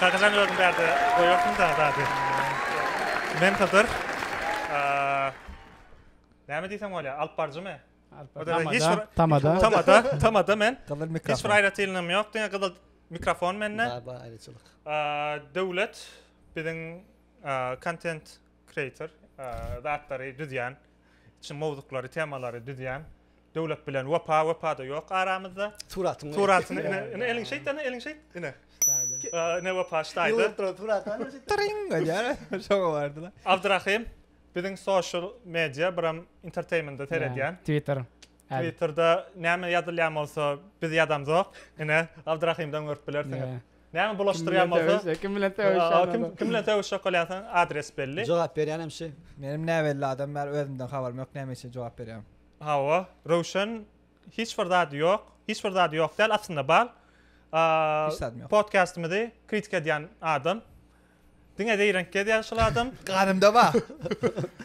Kakajan özüň bärde goýarsyň da zady. Men Hydyr. Näme diýsem bolýar? Alypbaryjymy? Tamada. Tamada. Tamada men. Gyzyl mikrofon. Hiç bir aýratynlygym ýok. Diňe gyzyl mikrofon mende. Bar bar aýratynlyk. Döwlet biziň kontent kreator, zatlary düzýän, içi mowzuklary, temalary düzýän Döwlet bilen Wepa, Wepa-da ýok aramyzda. Suratyň. Suratyny ine, ine eliňi şeýt, ine eliňi şeýt, ine. Ine Wepa ştaýda. Ýurtda suratany şeýt. Tyryň edýär, şoňa bardylar. Abdyrahym, biziň social media, biram entertainment-de seredýän. Twitter. Twitter-de näme ýazylýan bolsa, biz ýazamzok. Ine, Abdyrahymdan görüp bilersiňiz. Näme bulaşdyrýan bolsa. Kim bilen sögüşýän. Kim bilen sögüşjek bolýansyň adres belli. Jogap berýän hem şi. Menem näbelli adam bäri özümden habarym ýok näme üçin jogap berýän. Hawa Röwşen hiç bir zady ýok hiç bir zady ýok däl aslynda bar. Hiç zadym ýok. Podkastymyzy kritika edýän adam. Diňe zeýrenk gezýäň şul adam. Ganymda bar.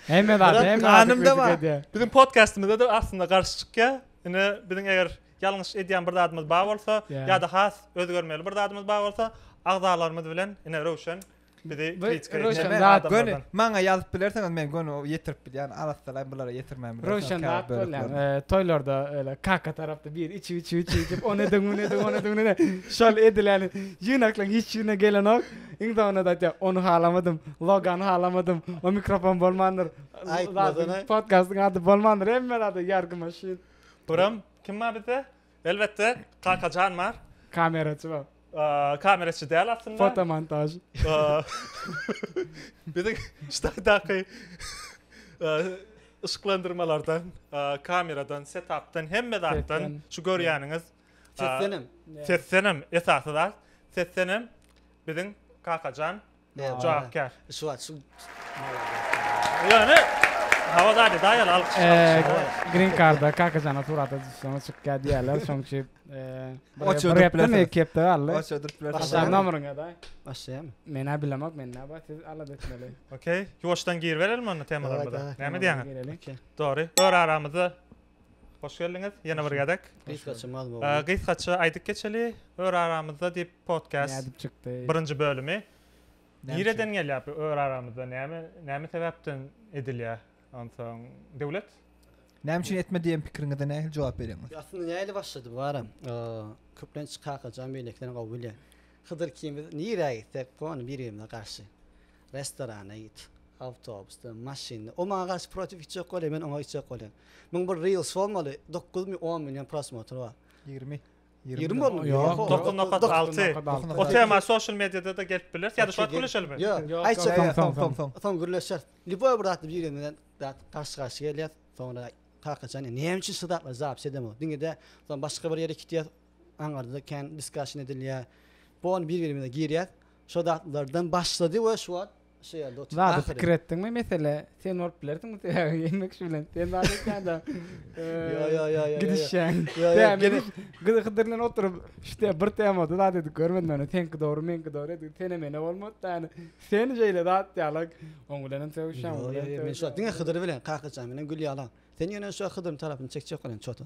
Hemme zat, hemme zat Ganymda bar. edýär. Biziň podkastymyzda-da aslynda garşy çykýar. Ine, biziň eger ýalňyş edýän bir zadymyz bar bolsa, Ýa. ýa-da has özgermeli bir zadymyz bar bolsa, agzalarymyz bilen, ine, Röwşen bizi Bu kritika edýän Röwşen Näme? zat- Göni adamlardan. maňa ýazyp bilersiňiz, men göni o ýetirip bilýän, arassalaýyn, bulara ýetirmän bilersiňiz. Röwşen käbir zat bolýar. böleklerini. Eee, toýlarda öýle kaka tarapda biri içip, içip, içip, içip, ony ediň, muny ediň, ony ediň, muny ediň. Şol edileni ýygnaklaň, hiç ýerine gelenok. Iň soňunda-da aýtýar, ony halamadym, logany halamadym, o mikrofon bolmandyr. Aýtmasana. Podkastyň ady bolmandyr, hemme zada ýargy maşyn. Buram kim bar bizde? Elbetde, Kakajan bar. Kameraçy bar. Kameraçy däl aslynda. Fotomontaž. Biziň ştaýdaky yşyklandyrmalardan, kameradan, setapdan, hemme zatdan şu görýäniňiz. Seslenem. Seslenem esasy zat. Seslenem biziň Kakajan jogapkär. Şu wagt şu Ýöne Hawa dady daýal alkyş alkyş. Green Card-a Kakajana surata düşseňiz çykýar diýýärler. Şoň üçin bir hepdemi, iki hepde galdy. Başladyp bilersiň. Başlaýan nomeryňa-da. Başlaýarmy? Men-ä bilemok, men-ä bar, siz alada etmeli. Okey. Ýuwaşdan giribereliň onda temalarymyza. Näme diýýäňiz? Gireliň. Okey. Dogry. Ör aramyzda Hoş geldiňiz ýene bir gezek. Gysgaça mazmugly. Gysgaça aýdyp geçeli Ör aramyzda diýip podcast. Nädip çykdy? Birinji bölümi. Nireden gelýär bu Ör aramyzda näme näme sebäpden edilýär? Onsoň Döwlet Näme üçin etme diýen pikiriňize nähili jogap berýäňiz? Aslynda nähili başlady bu aram? Köplenç Kakajan beýlekilerini gowy bilýän. Hydyr ikimiz nirä gitsek gony bir-birimize garşy. Restorana git, awtobusda, maşynda. O maňa garşy protiv içjek bolýa, men oňa içjek bolýan. Muň bir reels bolmaly, dokuz mi, on million prosmotr bar. Ýigrimi. Ýigrimi boldy. Ýok. Dokuz nokat alty. O tema sosial mediada-da gelip biler. Ýa-da şu wagt gürleşelimi? Ýok. Aýtjak ýa soň soň soň. Soň gürleşer. Lýuboý bir zatda biri bilen dat garşy garşy gelýär. Soňra kakajan ýa näme üçin şu zatlara jogap edemok. Diňede soň başga bir ýere gitýär. Aňarda kän diskussion edilýär. Bu on bir birimize girýär. Şo zatlardan başlady we şu wagt şu ýerde oturyp. Zady pikir etdiňmi mesele sen bolup bilersiň sebäbi gelmek şu bilen sen zady etýändä. Ýo ýo ýo ýo. Gidişýäň. Ýo ýo gidiş. Gyzy hydyr bilen oturyp işte bir temada zat edip görmedim ýöne seňki dogry meňki dogry edip sene mene bolmady da ýöne sen şeýle zat ýaly oň bilenem sögüşýäň. Ýo ýo ýo men şu wagt diňe hydyr bilen kakajan bilen gülýala. Sen ýöne şu wagt hydyryň tarapyny çekjek bolan çota.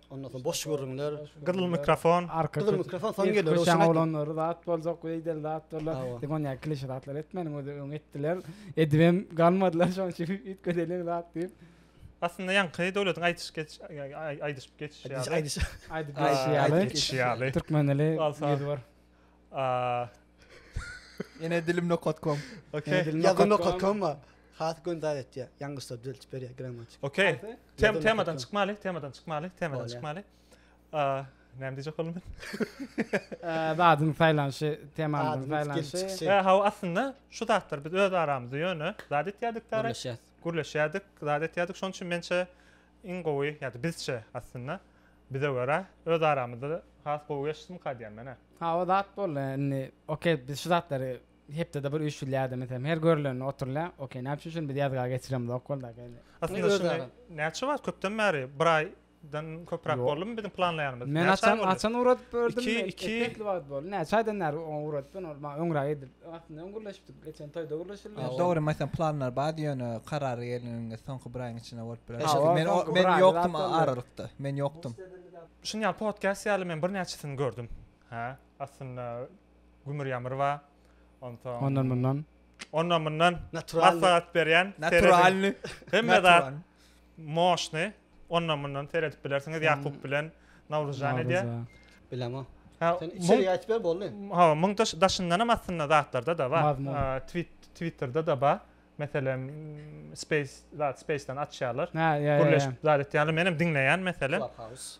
Ondan soň boş gürrüňler. Gyzyl mikrofon. Gyzyl mikrofon soň geler. Köşäň oglanlary zat boljak, beýdel zat bolar. Diňe onýa klişe zatlar etmäniň özi öň etdiler. Edibem galmadylar şoň üçin üýtgedeliň zat diýip. Aslynda ýaňky döwletiň aýdyş geç aýdyşyp geçişi ýaly. Aýdyp geçişi ýaly. Türkmen dili ýüz bir. Ene dilim nokat kom. Okey. Ýazgy nokat kom bar. Has göndar etýär. Ýalňyşlar düzeltip berýär grammatik. Okey. Tem temadan çykmaly, temadan çykmaly, temadan çykmaly. A, näme diýjek boldum men? Zadyň saýlanyşy, temanyň saýlanyşy. Ä, hawa, aslynda şu zatlar biz öz aramyzda ýöne zat etýärdik dara. Gürleşýärdik. Gürleşýärdik, zat etýärdik. Şonuň üçin mençe iň gowy, ýa-da bizçe aslynda Bize görä öz aramyzda has gowy geçsinka diýýän menä. Hawa zat boldy indi ok biz şu zatlary hepdede bir üýşülýärdi meselem her görülende oturylýar ok näme üçin şuny biz ýazga geçiremizok boldaka indi. Aslynda şuny näçe wagt köpden bäri bir aýdan köpräk boldumy biziň planlaýanymyz. Men açan açan ugradyp gördüm. Iki iki. Näçe aýdan bäri ugradypdyn ol maňa öňräk edilipdi aslynda öň gürleşipdik. Geçen toýda gürleşildi. Ýa dogry meselem planlar bardy ýöne karary gelninde soňky bir aýyň içinde bolup biler. Eşe men men ýokdum aralykda. Men ýokdum. Şuny ýaly podcast ýaly men birnäçesini gördüm. Hä? Aslynda gümür ýamyr bar. Onsoň Ondan mundan. Ondan mundan. Natural. Maslahat berýän. Natural. Hemme zat. Moşny ondan mundan seredip bilersiňiz Ýakup bilen Nawruzjan edýär. Bilemok. Sen içeri aýt ber boldy. Ha, muň daşyndan hem aslynda zatlarda da bar. Twitterde da bar. Meselem, Space, zat Space-den açýarlar. Gürleşip zat etýärler. Men hem diňleýän meselem. Clubhouse.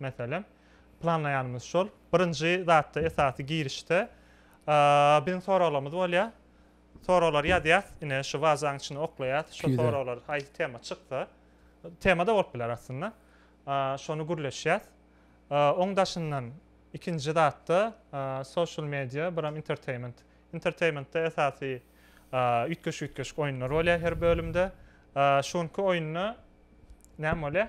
Meselem, planlaýanymyz şol. Birinji zatda, esasy girişde biziň soraglarymyz bolýar. Soraglar ýazýas, ine şu wazaň içine oklaýas, şu soraglar haýsy tema çyksa, tema-da bolup biler aslynda. Şony gürleşýäs. Oň daşyndan ikinji zatda social media, biram entertainment. Entertainmentde esasy üýtgeşik-üýtgeşik oýunlar bolýar her bölümde. Şu günki oýunda näme bolýar?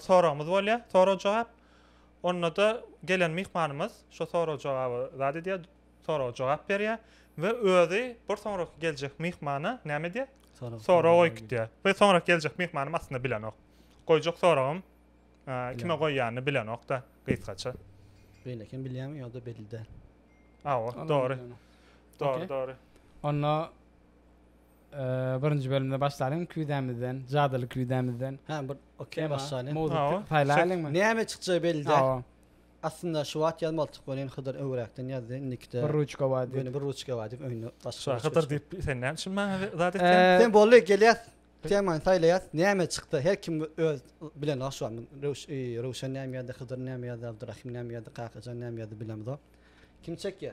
soragymyz bolýar, sorag-jogap. Onda-da gelen myhmanymyz şo sorag-jogaby zat edýär, soraga jogap berýär we özi bir soňraky geljek myhmana näme edýär? Sorag goýup gidýär. We soňraky geljek myhmanym aslynda bilenok. Goýjak soragym kime goýýanyny bilenok-da, gysgaça. Beýle eken, bilýäňmi ýa-da belli däl? Hawa, dogry. Dogry, dogry. Onda Birinji bölümde başlalyň küýzämizden, jadyly küýzämizden. Hä, bir okey başlalyň. Mowzuk saýlaýlyňmy? Näme çykjagy belli däl. Hawa. Aslynda şu wagt ýazmalydyk welin Hydyr öwräkden ýazdy, indikide. Bir ruçka bar diýip. Ýöne bir ruçka bar diýip öňde başga. Şa Hydyr diýip sen näme üçin maňa zat etdiň? Sen boldy gelýäs. Temany saýlaýas. Näme çykdy? Her kim öz bilen aş bar. Röwşen näme ýazdy, Hydyr näme ýazdy, Abdyrahym näme ýazdy, Kakajan näme ýazdy bilemzok. Kim çekýär?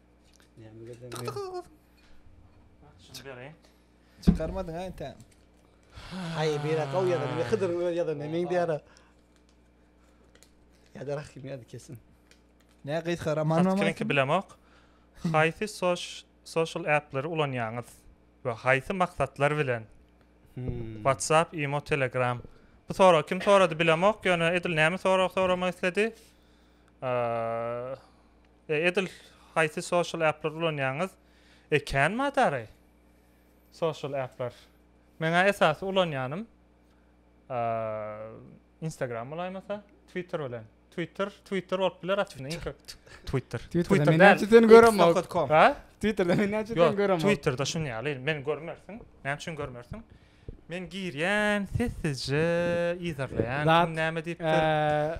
Çykarmadyň ha entä. Haý, bire gaw ýazan, bir hydyryň öz ýazan, men diýara. Ýa-da Rahim ýazdy kesin. Nä gysga roman mı? Kiminki bilemok. Haýsy social app'leri ulanýaňyz we haýsy maksatlar bilen? WhatsApp, Imo, Telegram. Bu sorag kim sorady bilemok, ýöne edil näme sorag soramak isledi? Edil haýsy social appleri ulanýaňyz? E kän madary social appler. Meň-ä esasy ulanýanym Instagram bolaýmasa, Twitter bilen. Twitter, Twitter bolup biler aslynda. Iň köp Twitter. Twitter däl. Näçe seni göremok. Ha? Twitterda men näçe seni göremok. Twitterda şun ýaly. Men görmersiň. Näme üçin görmersiň? Men girýän, sessizje yzarlaýan. Kim näme diýipdir?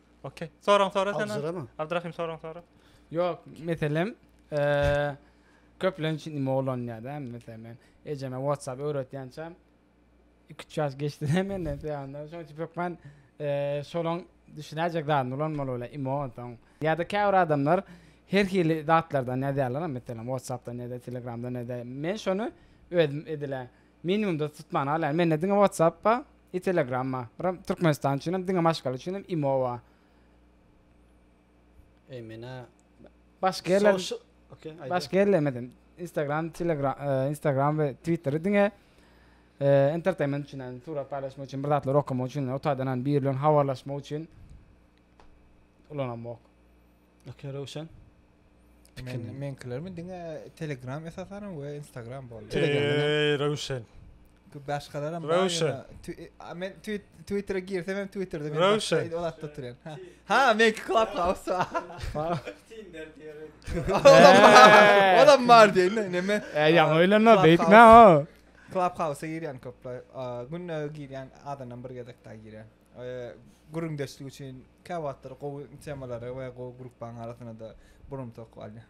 Okey. Soraň sora sen. Abdurrahman. Abdurrahim soraň sora. Yok meselem eee köplenç nime ulanýar da meselem men ejeme WhatsApp öwretýänçäm 2-3 ýaş geçdi hem menden söýende şoň üçin hökman eee şolaň düşünäýjek zadyny ulanmaly bile imo onsoň ýa-da käbir adamlar her hili zatlardan ýazýarlar meselem WhatsAppdan ýa-da Telegramdan ýa-da men şony özüm edile Minimumda tutman al ýaly mende diňe whatsapp ba i telegram ba ram türkmenistan üçinem diňe maşgala üçinem imo ba e mena başga ýerler başga ýerlemedem instagram telegram instagram we twitteri diňe entertainment üçin ýani surat paýlaşmak üçin bir zatlar okamak üçin o taýdan ýani biri bilen habarlaşmak üçin ulanamok. Okey Röwşen. Men menkilermi diňe Telegram esasan we Instagram boldy. Eee Röwşen. Bu başgalaram Röwşen. Men Twitter'a girsem hem Twitter'da men Röwşen. Ol atda turýan. Ha. Ha, men Clubhouse. Tinder diýerek. Olam bar diýen, näme? E, ýaňy öýlenme, beýtme o. Clubhouse-a girýän köpler. Günde girýän adamdan bir gezek daha girýän. gürrüňdeşlik üçin käwagtlar gowy temalary we gowy gruppaň arasynada burumtak alýar.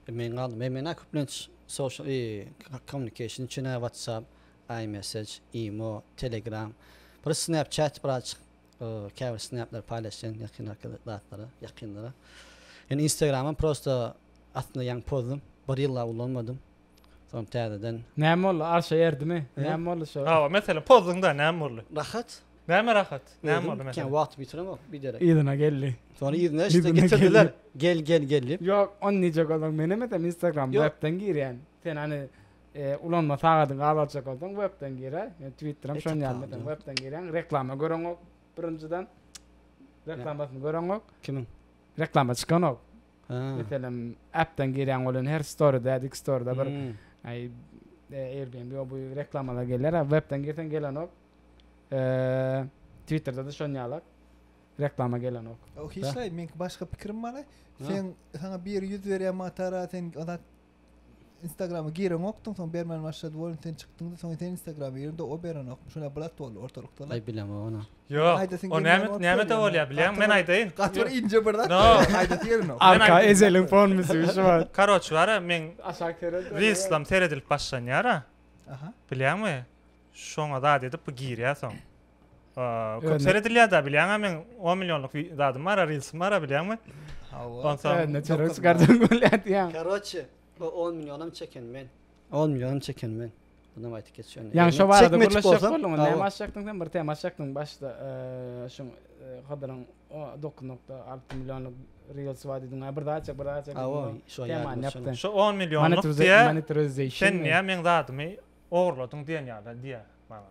Men galdym. Men menä köplenç social i communication üçin ä whatsapp, imessage, imo, telegram, bir snapchat bir azajyk käbir snapleri paýlaşýan ýakyn arkaly zatlara, ýakynlara. Indi instagramam prosta aslynda ýaňy pozdum. Bir ýyllap ulanmadym. Soň täzeden. Näme boldy? Arşa erdimi? Näme boldy şo? Hawa, meselem, pozdyň-da, näme boldy? Rahat. Näme rahat? Näme boldy, meselem? Kän wagty bitiremok, biderek. Yzyna geldi. Soň yzyna şeýdip getirdiler. Gel, gel, gel diýip. Ýok, ony nije görseň, men hem eýsem Instagram webden girýän. Sen hany ulanma sagadyňy alyp aljak bolsaň, webden gir-ä. Ýöne Twitter hem şonuň ýaly meselem, webden girýäň, reklama göreňok birinjiden. Reklamasyny göreňok. Kimiň? Reklama çykanok. Meselem, appden girýäň bolan her storyda, dik storyda bir aý Airbnb bu reklamalar geler, a webden girseň gelenok. Eee, Twitterda-da şon ýala reklama gelenok. Hiç zaýat, meňki başga pikirim bar. Sen saňa biri ýüz berýär matara, sen Instagrama gireňokdyň soň bermän başlady welin sen çykdyňda soň sen instagrama girdiňde o berenokmy şonda blat boldy ortalykda la. Aý bilemok ony. Ýok. Aýdasyň O gelmän näme bolupdyr näme de ýöne. bolýar bilýäňmi men aýdaýyn. Gaty bir inje bir zat. No. Aýdasy gelenok. Arka ezeliň fonuny siz şu wagt. Karoç bara meň Aşak sereldi. Reelslam seredilip başlanýara. Aha. Bilýäňmi? Şoňa zat edip bu girýä soň. Köp seredilýär da bilýäňä men 10 millionlyk zadym bar, reelsim bar bilýäňmi? Ondan soň ne çörek çykardyň bolýar diýýär. Karoçe, o 10 millionam çeken men. 10 millionam çeken men. Bunam aýdyp geçýän. Ýani şo barada gürleşjek bolduň, näme açjakdyň sen? Bir tema açjakdyň başda. Şuň Hydyryň 9.6 millionlyk reels bar diýdiň. Bir zat açjak, bir zat açjak. Awa, şo ýaly. Şo 10 millionlyk diýýär. Sen näme meň zadymy ogurladyň diýen ýaly diýýär maňa.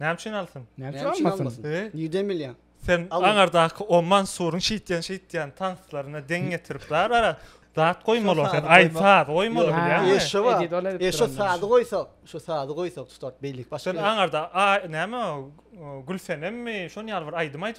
Näme üçin alsyn? Näme üçin almasyn? Nirden bilýäň? Sen aňardaky Oman suruň şeýtýän şeýtýän tanslaryna deň getirip bar ara. Zat goýmaly sen aýta goýmaly bilýäňmi? Eşe bar. Eşe sady goýsa, şu sady goýsa tutar beýlik başga. Sen aňarda näme Gülsenemmi? Şony ýaly bir aýdym aýt.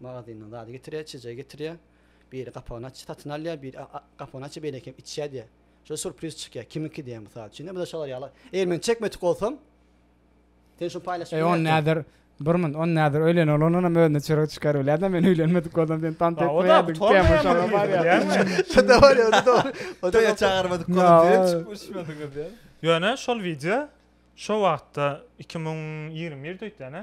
Magazyndan zady getirýär, çeje getirýär. Biri gapagyny aç, satyn alýar, biri gapagyny aç, beýleki hem içýär diýýär. Şol surpriz çykýar, kimiňki diýýär mysal üçin. Indi bu-da şolar ýaly. Eger men çekmedik bolsam, sen şuny paýlaşyp bilmersiň. Eý, ony näder, bir munt, ony näder öýlen oglandan hem özüne çörek çykar bilýärdi-ä, men öýlenmedik bolsam, sen tans etmeýärdiň, temaň şoňa barýar. Şo-da barýar, o-da dogry. Toýa çagyrmadyk bolup, sen çykyp uçmadyňyz diýýär. Ýöne şol wideo şo wagtda iki müň ýigrimi birde öýtýän-ä.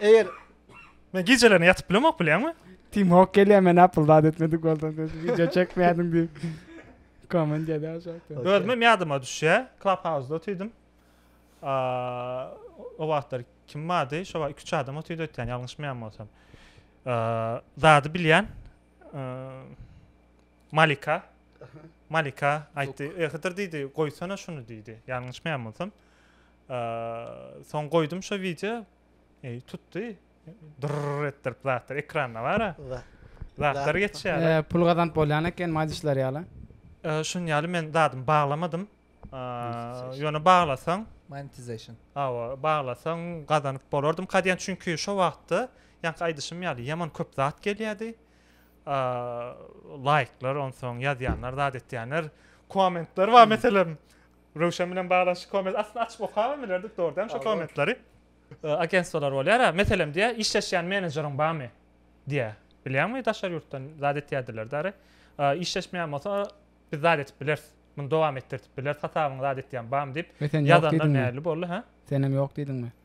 Eger Men gijelerine ýatyp bilemok bilýäňmi? Tim Hok gelýär men Apple zat etmedik bolsam sen wideo çekmädiň diýip. Komment ýazýar şaýka. Özümem ýadyma düşýär. Clubhouse-da otyrdim. O wagtlar kim bardy? Şo wagt iki-üç adam otyrdy öýtýän ýalňyşmaýan bolsam. Zady bilýän. Malika. Malika aýtdy. Ehydyr diýdi, goýsana şuny diýdi. Ýalňyşmaýan bolsam. Soň goýdum şo wideo. Eý, tutdy. Dyrr etdirip zatlar ekranda bar-a. Zatlar geçýär. Eee, pul gazanyp bolýan eken, maý dişler ýaly. Eee, şuny ýaly men zadymy baglamadym. Eee, ýöne baglasaň, monetization. Hawa, baglasaň gazanyp bolardym. Ka diýen, çünki şo wagtda, ýaňky aýdyşym ýaly, ýaman köp zat gelýärdi. Eee, laýklar, onsoň ýazýanlar, zat etýänler, kommentler bar meselem. Röwşen bilen baglanyşykly komment aslynda açyp okabam bilerdik dogrudanam şo kommentleri. Agentstwalar bolýara, meselem diýýär, işleşýän menejeriň barmy? diýýär. Bilýäňmi daşary ýurtdan zat etýärdiler dary. Işleşmeýän bolsa biz zat edip bileris. Muny dowam etdirdip bileris hasabyňy zat etýän barmy diýip ýazanlar nähili boldy hä? Senem ýok diýdiňmi?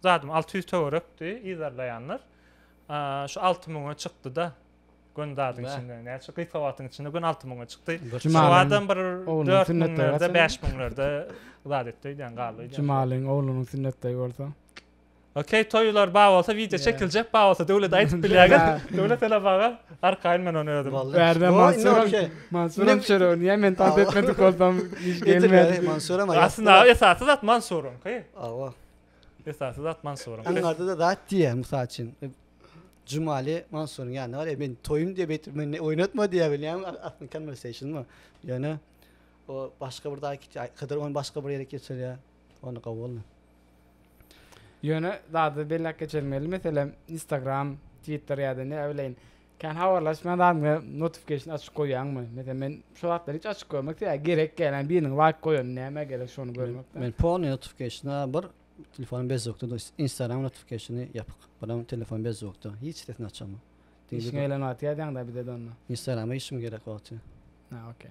Zadym alty ýüz töwerekdi, yzarlaýanlar şu alty müňe çykdy-da. Gün zadyň içinde, näçe şu gysga wagtyň içinde gün alty müňe çykdy. Şu adam bir dört müňlerde, bäş müňlerde zat etdi öýdýän, galdy öýdýän. Jemalyň oglunyň sünnetdeý bolsa. Okey, toýlar bar bolsa wideo çekiljek, bar bolsa döwlet aýdyp bilýäňiz. Döwlet hele baga arkaýyn men ony özüm. Bärde Mansur. Mansur hem şeýle ony hem men tans etmedik bolsam iş gelmedi. Mansur hem aýdyp. Aslynda esasy zat Mansuryňky. Awa. Esasy zat Mansuryň. Iň arzada zat diýýär, mysal üçin, Jumaly Mansuryň ýanyna bar, e, men toýum diýip aýtdyp, meni oýnatma diýýär bilýäňmi, a- aslyny konwerseýşnmy, ýöne o başga bir zat git, aý, Hydyr ony başga bir ýere geçirýär, onda gowy boldy. Ýöne zady belläp geçelim geldi, meselem, Instagram, Twitter ýa-da ne, a, bileýin, Kän habarlaşmaýan adamga notification açyk goýýaňmy? Meselem men şu zatlar hiç açyk goýmak sebäbi gerek gel yani biriniň laýk goýany nämä gerek şony görmekden. Men polny notifikationa bir telefonym bezzukda dur instagram notifikationy ýapyk biram telefonym bezzukda hiç sesini açaman. Işiňe eýlenip atýar däňdä bizede onda. Instagrama işim gerek wagty. Ha okey.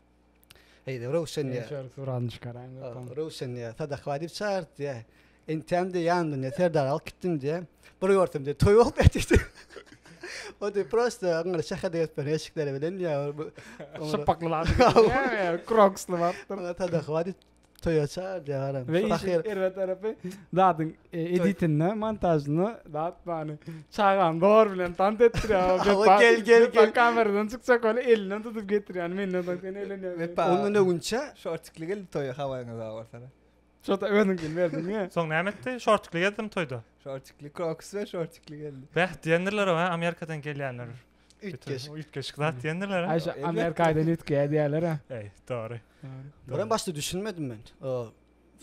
Heý-de, Röwşen diýýär. Şeýle surany çykaran ýokam. Röwşen diýýär, Sadak baý diýip çagyrt diýýär. Entäm diýýär, ýanymdan diýýär, Serdary alyp gitdim diýýär. Bir görsem diýýär, toý bolup ýatyr diýýär. O diýýär, prosta yňňyry şäherde gezip ýören eşikleri bilen diýýär. Şypbakly bardy. Kroksly bardy. Sadak baý diýip Toýa çag ýaran. Ve işin erbe tarapy zadyň e, editinde, montajynda zat bany çagam dor bilen tant etdirýär. Hawa, gel, gel, gel. Kameradan çykjak ol elinden tutup getirýär. Menden soň sen elenýär. Wepa. Ondan öňünçe şortikli geldi toýa hawaňyz awa bolsana. Şota özüňkini berdiň ya. Soň näme etdi? Şortikli gezdim toýda. Şortikli kroks ve şortikli geldi. Bäh diýendirler o, ha, Amerikadan gelýänler. Üýtgeşik. Üýtgeşik zat diýendirler. Aý, şu Amerikaýdan üýtgeýär diýýärler ha. Eý, dogry. Bura başda düşünmedim men. O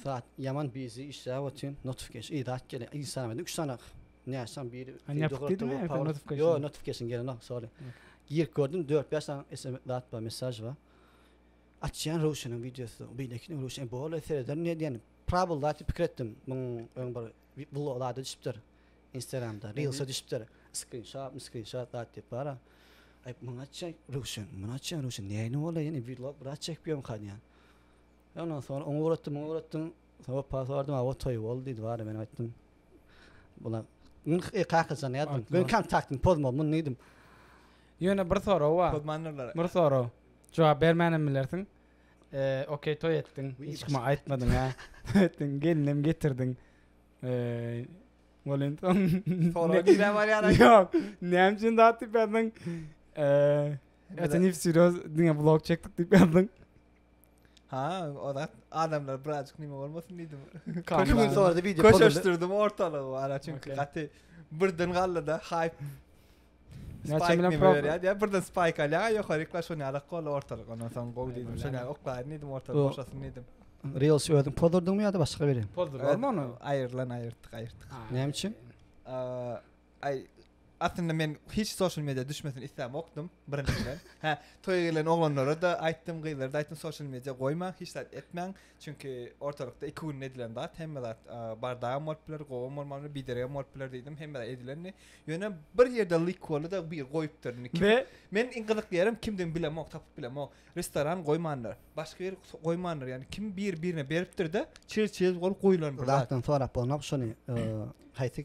saat ýaman bizi işläp otyryn, notifikasy idat gelýär. Instagram edip 3 sany näsam biri. Ýo, notifikasy gelýär, sorry. Girip gördüm 4-5 sany SMS zat bar, mesaj bar. Açýan Röwşeniň wideosy, beýlekiniň Röwşen bor, serederin diýen. Prawda pikir etdim. Muň öň bir Vlog zada düşüpdir instagramda reelsa düşüpdir skrinşot miskrinşot zat diýip bara aýp muny atjaý röwşen muny atjaý röwşen näýni bolaý ýene vlog bir atjaý pýonka diýýän ondan soň oňa ugratdym muňa ugratdym soň wepa sorady awa toý boldy diýdi bara men aýtdym bula e kakajan ýazdym men kontaktyny pozmam muny diýdim ýöne bir sorag bar bir sorag jogap bermänem bilersiň Eee okey toý etdiň hiç kime aýtmadyň hä toý etdiň gelinem getirdiň eee welin soň Soraga girä barýan aýt. Ýok näme üçin zat diýip ýazdyň eee Ete nip seriöz diňe blog çekdik diýip ýazdyň. Ha o zat adamlar birazjyk nime bolmasyn diýdim. Köşe gün sorady wideo pozuldy. Köşeşdirdim ortalygy wara çünki Okey. gaty birden galdyda haýp Näçe bilen pro? Ýa birden spike alýa, ýokary klass şony alak gol ortalyk. Ondan soň gol diýdim, şony oklaýyn diýdim, ortalyk boşasyn diýdim. Real şu özüň pozdurdyňmy ýa-da başga biri? Pozdurdyň ony. Aýrylan aýyrtdyk, aýyrtdyk. Näme üçin? Aý, aslynda men hiç social media düşmesin isläp okdum birinjiden. Hä, toýa gelen oglanlara da aýtdym, gyzlara da aýtdym, social media goýmaň, hiç zat etmäň. Çünki ortalykda iki günde edilen zat, hemme zat bardagam bolup biler, gowam bolman biler, bideregem bolup biler diýdim, hemme zat edilendi. Ýöne bir ýerde lyk boldy-da, bir goýupdyr. Indi men iň gyzykly ýerim kimdigini bilemok, tapyp bilemok. Restoran goýmandyr, başga ýer goýmandyr, ýagny kim bir-birine beripdir-de, çir-çir bolup goýlandyr. Zatdan sorap bolnok şony, haýsy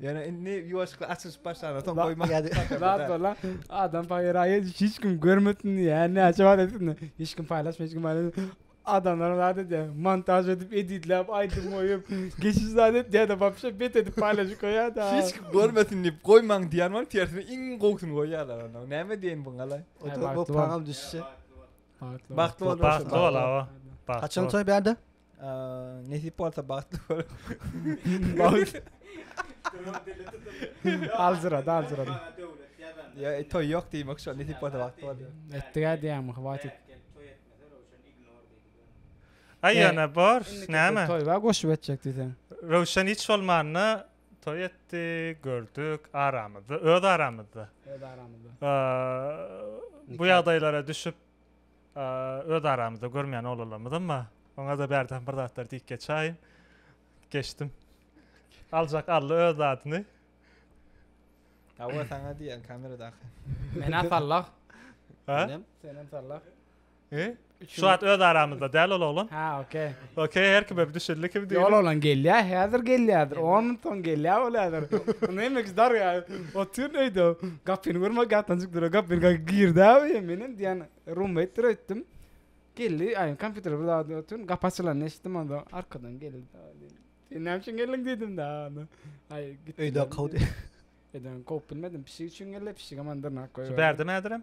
Ýöne indi ýuwaşykly açylyşyp başlanda soň goýma. Zat bola. Adam paýraýy hiç kim görmesin diýä. Näçe wagt etsin. Hiç kim paýlaşma, hiç kim paýlaşma. Adamlar zat edýä. Montaž edip, editläp, aýdym goýup, geçiş zat etýä da, wapşe bet edip paýlaşyp goýýa da. Hiç kim görmesin diýip goýmaň diýýän bolup tersine iň gowusyny goýýarlar onda. Näme diýeýin bu gala? Oturup bu paňam düşse. Bagtly bol. Bagtly bol. Haçan toý bärde? Nesip bolsa bagtly bol. Bagtly. Aljyrady, aljyrady. Ya e, toy yok diýmek şu nesip bolsa bagtly bol. Etdiga diýämi hwatit. Ay yana bor. Näme? Toy var goşup etjek diýsen. Röwşen hiç bolmanda toy etdi, gördük aramyzda, öz aramyzda. Öz aramyzda. Bu ýagdaýlara düşüp Öz aramyzda görmeýän oglanlarymyzam bar. Oňa-da bärden bir zatlar diýip geçäýin. Geçdim. Aljak aldy öz zadyny. Hawa saňa diýýän kameradaky. Men-ä sallah. Hä? Senem sallah. He? Şu wagt öz aramyzda däl ol oglan. Ha, okey. Okey, her kime düşündi kim diýip. Ýol oglan gelýär, häzir gelýärdir. 10 minut soň gelýär bolýardyr. Näme ki dar ýa. Otyr öýde. Gapyny görme gatdan çykdy. Gapyny gaky girdi abi. Men hem diýen roommate dir öýtdüm. Geldi, aýyň kompýuter bir zady otyr. Gapy açylan eşitdim onda. Arkadan geldi. Sen näme üçin geldiň diýdim da. Aý git. Öýde kowdy. Öýden kowup bilmedim. Pişik üçin geldi. Pişik hem andyr nak goýberdi. Bärde mädirem?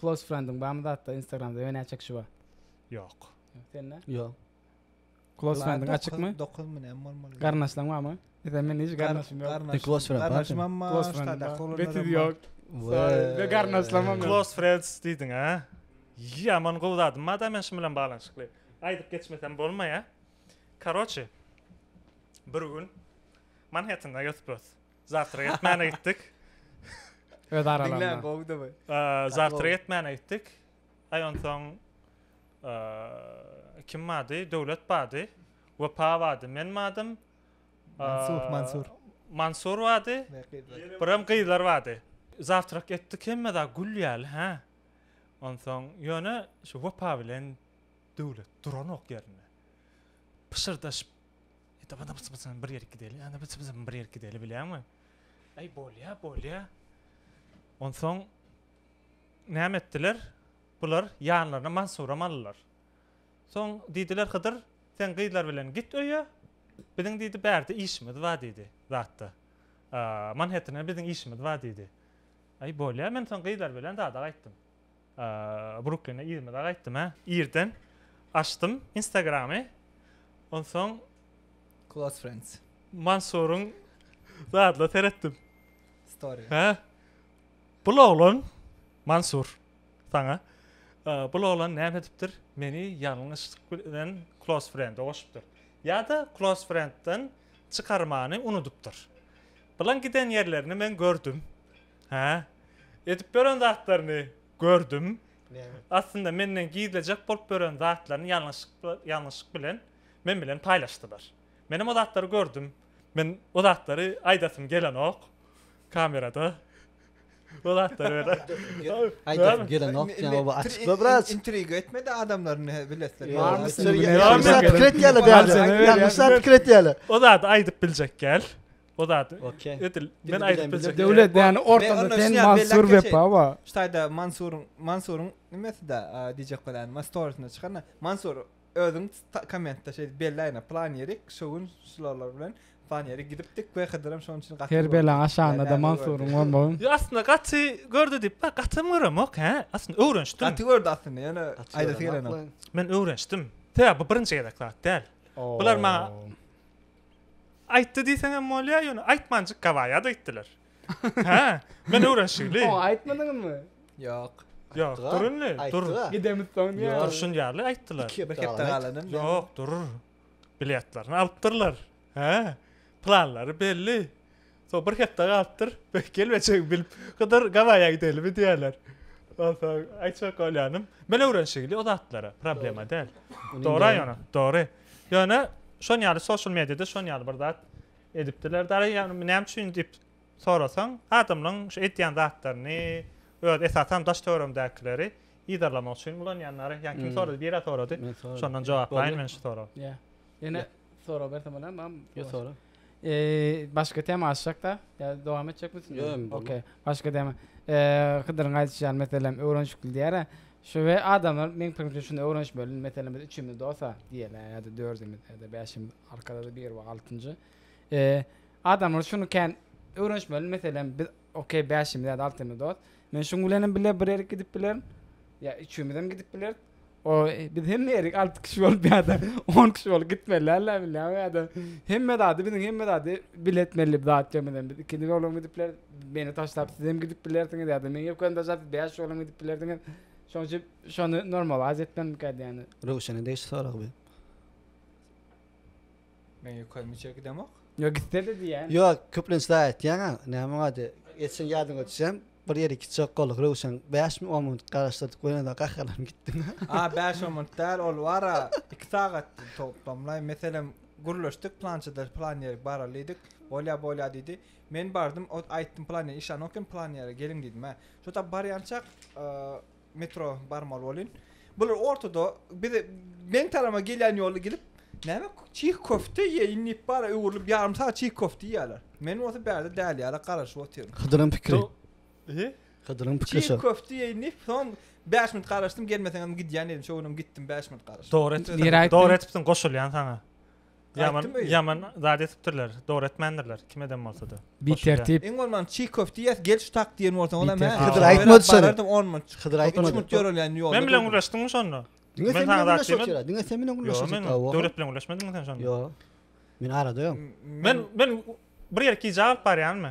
Close friendiň barmy zatda instagramda men näçe kişi bar. Ýok. Sende? Ýok. Close friendiň açykmy? 9 mi näme bolmaly? Garnaşlaň barmy? Eden men hiç garnaşym ýok. Garnaşym. Close friend bar. Garnaşym hem bar. Close friend bar. Betiz ýok. Ve garnaşlamam. Close friends diýdiň ha? Ýaman gowy zadym bar da men şum bilen baglanyşykly. Aýdyp geçmesem bolmaýa. Karoçi. Bir gün Manhettende ýötüp-ös. Zawtra ýetmäne gitdik. Öz aralarynda. Diňläň gowudy bu. Zawtra ýetmäne gitdik. Aý onsoň kim bardy? Döwlet bardy. Wepa bardy. Men bardym. Mansur, Mansur. Mansur bardy. Biram gyzlar bardy. Zawtrak etdik hemme zat gül ýaly, hä? Onsoň ýöne şu Wepa bilen Döwlet duranok ýerinde. Pyşyrdaşyp Ýa-da bada byç-byçam bir ýerik gideli, ýa-da byç-byçam bir ýerik gideli, bilýäňmi? Äý, bolýa, bolýa. Onsoň näme etdiler? Bular ýanlaryna Mansuram aldylar. Soň diýdiler, Hydyr, sen gyzlar bilen git öýe, biziň diýdi, bärde işimiz bar diýdi, zatda. Manhettene biziň işimiz bar diýdi. Äý, bolýa, men soň gyzlar bilen zada gaýtdym. Brukline yzymyza gaýtdym hä. Irden açdym Instagramy. Onsoň Close friends. Mansuryň zadla seretdim. Story. Hä? Bul oglan Mansur saňa. Bul oglan näme edipdir? Meni ýalňyşlyk bilen close friend-e goşupdyr. Ýa-da close friend-den çykarmany unudypdyr. Bulan giden ýerlerini men gördüm. Hä? Edip ýören zatlaryny gördüm. Näme? Aslynda menden gizlejek bolup ýören zatlaryny ýalňyşyk ýalňyşyk bilen men bilen paýlaşdylar. Menem o zatlary gördüm. Men o zatlary aýdasym gelenok kamerada. O zatlary öýdä. Aýdasym gelenok diýen oba açykla biraz. Intriga etmedi adamlaryň näme bilesligi. Ýalňyşlar pikir etýärler. O zady aýdyp biljek gel. O zat. Okey. Edil. Men aýdyp biljek. Döwlet yani ortada sen Mansur Wepa ba. Ştaýda Mansuryň Mansuryň nimesida diýjek bolan Mastoryna çykana. Mansur özüň kommentde şey belläýne plan ýerik şu gün şularlar bilen plan ýeri gidipdik we Hydyram şonuň üçin gaty. Her bela aşanda da Mansuryň bolmagy. Ýa aslynda gaty gördi diýip bak gaty göremok he. Aslynda öwrenişdim. Gaty gördi aslynda ýöne aýdasy gelenok. Men öwrenişdim. Sebäbi bu birinji gezek zat däl. Bular maňa Aýtdy diýseňem bolýar, ýöne aýtmanjyk gabaýat aýtdylar. Hä, men öwrenşikli. Oňa aýtmadyňyzmy? Ýok. Ýok, dur indi, dur. Gidemiz soň diýýär. Durşun ýaly aýtdylar. Bir hepde galan hem. Ýok, dur. Biletlerini alypdyrlar. Hä, planlary belli. Soň bir hepde galypdyr. Gel beçegi bilip Hydyr Gabaýa gidelimi diýerler. Onsoň aýtjak bolýanym, men öwrenişigili o zatlara, problema däl. Dogry ýöne, dogry. Ýöne şon ýaly sosial mediada şon ýaly bir zat edipdirler. Dara ýa näme üçin diýip sorasaň, adamlaryň şu edýän zatlaryny, öz esasan daş töweregimdäkileri yzarlamak üçin ulanýanlary. Ýa kim sorady, biri-ä sorady. Şondan jogaplaýyn men şu soragy. Ýa. Ýene Sorag bersem bolar mam? Yo sora. Eee başga tema açjakda. Ya dowam etjek misin? Yo, em, bolmaz. Okey. Başga tema. Eee Hydyryň aýdyşy ýaly meselem öwrenişikli diýara. Şu we adamlar meň pikirimçe şuny öwrenişmeli. Meselem biz üçümiz dosa diýeli ýa-da dördümiz ýa-da bäşimiz arkadaş bir we altynjy. Eee adamlar şuny kän öwrenişmeli. Meselem biz Ok bäşimiz ýa-da altymyz dost. Men şuň bilenem bile bir ýerik gidip bilerin. Ýa üçümizem gidip bileris. O biz hemme ýerik alty kişi bolup ýa-da on kişi bolup gitmeli alla bilýän ýa-da hemme zady biziň hemme zady bile etmeli zat ýok meselem biz ikimiz olam gidip bileris meni taşlap sizem gidip bilersiňiz ýa-da meň ýökemi taşlap siz bäş olam gidip bilersiňiz şoň üçin şony normalaz etmelikä diýýän. Röwşene degişli sorag bu. Men ýoka müçe gidemok. Ýok gitdedi diýýän. Ýok, köplenç daýy etýäňä. Näme wady? Etseň ýadyňa düşýän. Bir ýeri gitjek bolduk Röwşen. Bäş mi on minut garaşdyrdyk we ýene-de gaharlanyp gitdim. A bäş on minut däl, ol bar-a iki sagatdy toplamlaý. Meselem, gürleşdik plançada plan ýerik baraly diýdik. Bolýa bolýa diýdi. Men bardym, ot aýtdym plan ýeri işanok hem plan ýere geliň diýdim-ä. Şo tap barýançak Metro barmaly bolyn. Bular ortada bize men tarama gelýän ýolda gelip, näme çih köfte ýeýin diýip bara öwrülip ýarym sagat çih köfte ýýärler. Men bolsa bärde däli ýaly garaşyp otyryn. Hydyryň pikiri. He? Hydyryň pikiri şo. Çih köfte ýeýin diýip, soň bäş minut garaşdym, gelmeseňem gidýän diýdim. Şo günem gitdim bäş minut garaşyp. Dogry etipsiň. Dogry etipsiň, goşulýan saňa. Ýaman, Aýtdym öýe. ýaman zat etipdirler. Dogry etmändirler. Kim eden bolsa-da. Bir Hoş tertip. Iň bolman çiý köfte ýes gel şu tak diýen bolsaň olam Bitter. hä. Hydyr aýtmady şony. Barardym 10 minut. Hydyr Üç aýtmady. minut ýörelýän ýolda. Men bilen durdum. gürleşdiňmi şonda? Diňe Men sen sana bilen zat gürleşip diýmedim. otyr. Diňe sen bilen gürleşip Ýok, otyr. men Awa. Döwlet bilen gürleşmediňmi sen şonda? Ýok. Men arada ýok. Men men bir ýere gije alyp barýanmy?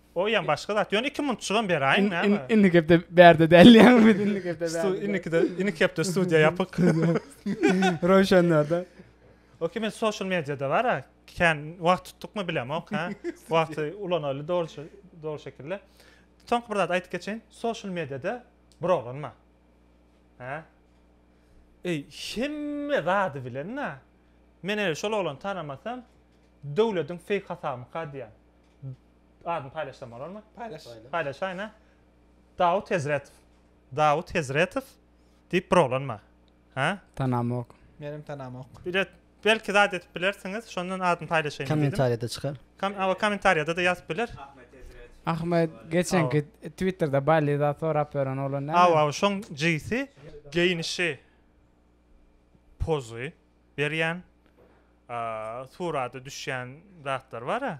Oýam başga zat. Ýöne iki munçugam beräýiň näme? Indiki hepde bärde däl diýýäňmi biz indiki hepde bärde. Stu indikide indiki hepde studiýa ýapyk. Röwşenlerde. Okey men social mediada bara kän wagt tutdukmy bilemok ha. Wagty ulanaly dogry dogry şekilde. Soňky bir zat aýdyp geçeýin. Social mediada bir oglan bar. Hä? Eý hemme zady bilen-ä. Men eger şol oglany tanamasam döwlediň feýk hasabymyka diýýän. Adyny paýlaşsam bolarmy? Paýlaş. Paýlaşaýyn a. Dawut Hezretow. Dawut Hezretow diýip bir oglan bar. Hä? Tanamok. Menem tanamok. Bilet belki zat edip bilersiňiz, şondan adyny paýlaşaýyn diýdim. Kommentariýada çykar. Kom awa kommentariýada-da ýazyp biler. Ahmet geçenki Twitterda Bally zat sorap ýören oglan näme? Awa awa şoň jigisi geýnişi pozy berýän, a, surata düşýän zatlar bar-a.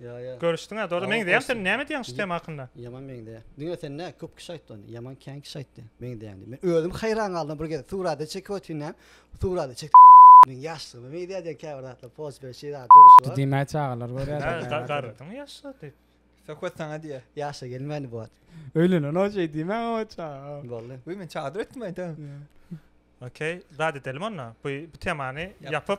Ýa ýa. Görüşdiňä dogry meňzeýäň sen näme diýýäň şu tema hakynda. Ýaman meňzeýä. Diňe sen näme köp kişi aýtdy ony. Ýaman kän kişi aýtdy. Meňzeýäň diýip. Men özüm haýran galdym bir gezek surata çekip otyndam. Surata çekip meň ýaşlygyma meňzeýä diýen käbir zatlar post beren şeýle zat durmuşy bar. Diýmäge çagalar görýär da. Hä garrydyň ýaşla diýip. Söhbet saňa diýýä. Ýaşa gelmändi bu wagt. Öýlenenok şeý diýmäň awa çaga. Boldy. Wi men çadyr etdim aýda. Okey zat edelim onda. Bu temany ýapyp.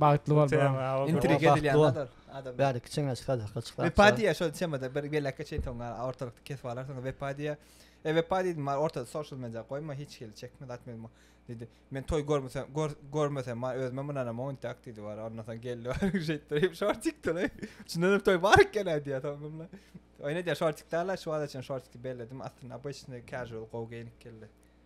Bagtly bol bro. Intrig edilýän zat ol. Adam. Bäri kiçeňe çykar hakda çykar. Wepa diýýär şol temada bir belekge çeýip soň ortalykda kesip alar soň wepa diýýär. E wepa diýdim bar ortada social media goýma hiç hili çekme zat men diýdi. Men toý görmesem görmesem bar özüme mundanam oňtak diýdi bar ondan soň geldi bar şeýtdirip şortik töle. Şundan hem toý bar eken diýýär soňunda. Oýna diýýär şortik däl şu wagta çenli şortik belledim aslynda obычный casual gowy geýinip geldi.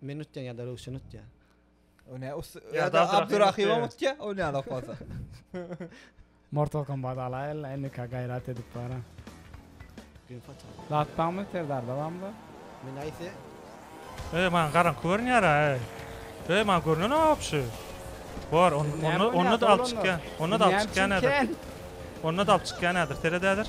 Men utyan ya da Röwşen utya. O ne us ya da Abdurahim utya o ne ala fasa. Mortal Kombat ala el indi ka gayrat edip bara. Gün fata. Zat bamı serdar da bamı da. Men ayse. Ey man garan körün yara ey. Ey man görünen o apşı. Var onu onu onu da alıp çıkyan. Onu da alıp çıkyan nedir? Onu da alıp çıkyan nedir? Serededir.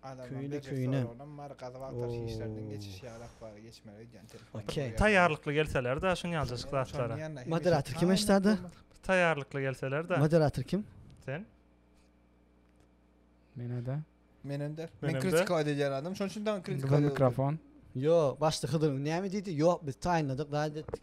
Köýni köýnen. Taýýarlykly gelseler-de şuny ýaljajyk zatlara. Moderator kim eşdada? Taýýarlykly gelseler de. Moderator kim? Sen. Menede. Menende. Men kritika edýän adam, şonuň üçin daň kritika. Mikrofon. Ýok, başda Hydyr näme diýdi? Ýok, biz taýynladyk, raýat etdik.